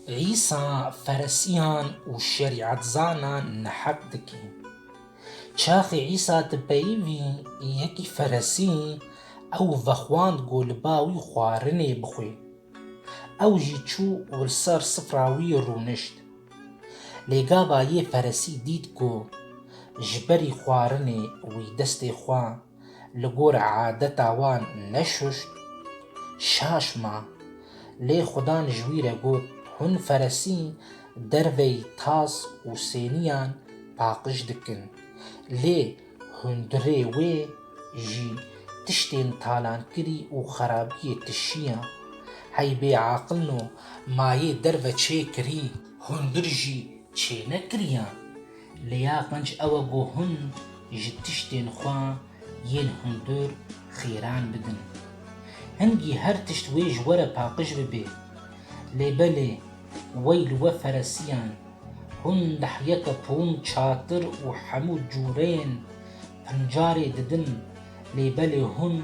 Îsa feresiyan û şerîetzanan neheq dike. Çaxê Îsa di peyivî yekî feresî ew vexwand ku li ba wî xwarinê bixwe. Ew jî çû û li ser sifra wî rûnişt. Lê gava yê feresî dît ku ji berî xwarinê wî destê xwe Li gor adeta wan neşuşt, şaş ma. Lê xudan ji wî re got, Hûn feresî derveyî tas û sêniyan paqij dikin, lê hundirê wê jî tiştên talankirî û xerabiyê tişiya. Hey bê aqil no, ma yê derve çêkirî, hundir jî çênekiriyan. Lê ya qenc ew e ku hûn ji tiştên xwe yên hundir xêran bidin. Hingî her tişt wê ji we re paqij bibe. Lê belê wey li we feresiyan, hûn nehyeke pûn, çatir û hemû cûreyên pincarê didin, lê belê hûn,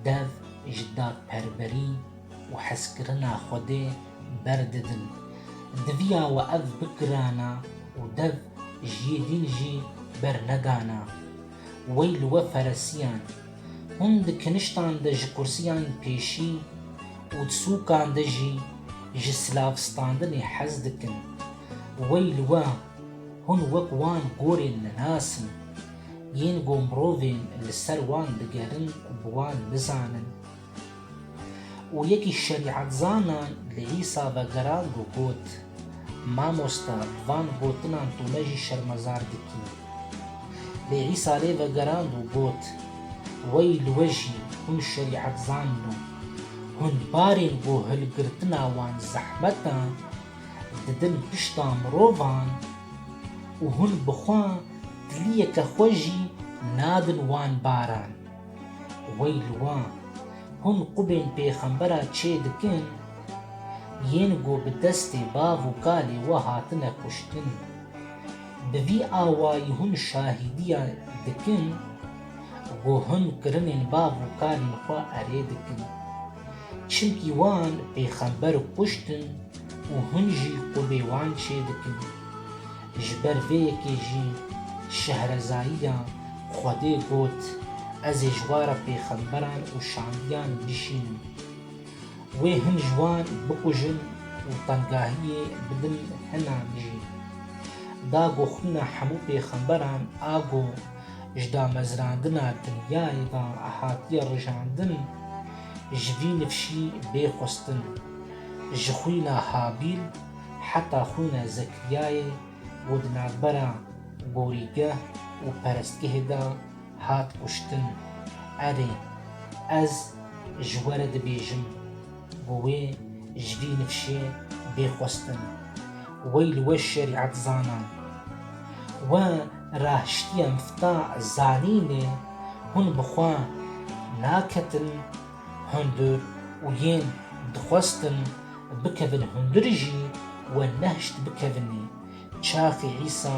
Dev ji dadperwerî û hezkirina Xwedê berdidin. Diviya we ev bigirana û dev ji yê dîn jî bernedana. Wey li we feresiyan. Hûn di kiniştan de ji kursiyan pêşî û di sûkan de jî ji silavstandinê hez dikin. Wey li we Hûn wek wan gorên li nas in, yên ku mirovên li ser wan digerin bi wan bizanin. Û yekî şerîetzanan li Îsa vegerand û got, Mamosta, bi van gotinan tu me jî şermezar dikî. Lê Îsa lê vegerand û got, Wey li we jî, hûn şerîetzanin û hûn barên ku hilgirtina wan zehmet e, didin pişta mirovan û hûn bi xwe tiliyeke xwe jî nadin wan baran. Weyl wan! Hûn qubên pêxembera çê dikin, yên ku bi destê bav û kalê we hatine kuştin. Bi vî awayî hûn şahîdiya dikin ku hûn kirinên bav û kalên xwe erê dikin. Çimkî wan pêxember kuştin û hûn jî qûbê wan çêdikin. Ji ber vê yekê jî Şehrezaiya Xwedê got, Ez ê ji wara pêxemberan û şandiyan bişînim. Wê hin ji wan bikujin û tengahiyê bidin hinan jî. Da goxûna hemû pêxemberan a go. Ji damezrandina dinyayê ve hatiye rijandin, ji vî nifşî bê xwestin. Ji xwîna Habîl heta xwîna Zekriyayê û di navbera gorîgeh û perestgehê de hat kuştin. Erê, ez ji we re dibêjim. Bi wê ji vî nifşê bê xwestin. Wey li we şerîetzanan! We raştiya mfta zanînê hûn bi xwe naketin hundir û yên dixwestin bikevin hundir jî we nehişt bikevinê. Çaxê Îsa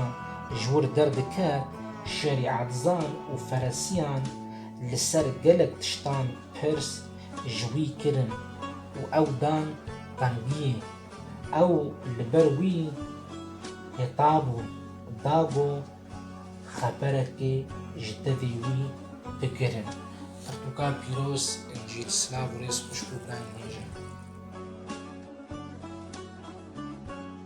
ji wir derdiket şerîetzan û feresiyan li ser gelek tiştan pirs ji wî kirin û ew dan qendiyê. Ew li ber wî heta bû, da ku xeberekê ji tevî wî bigirin. Pirtûka pîroz Encîl Silav û rêz xwişk û birayên hêj e.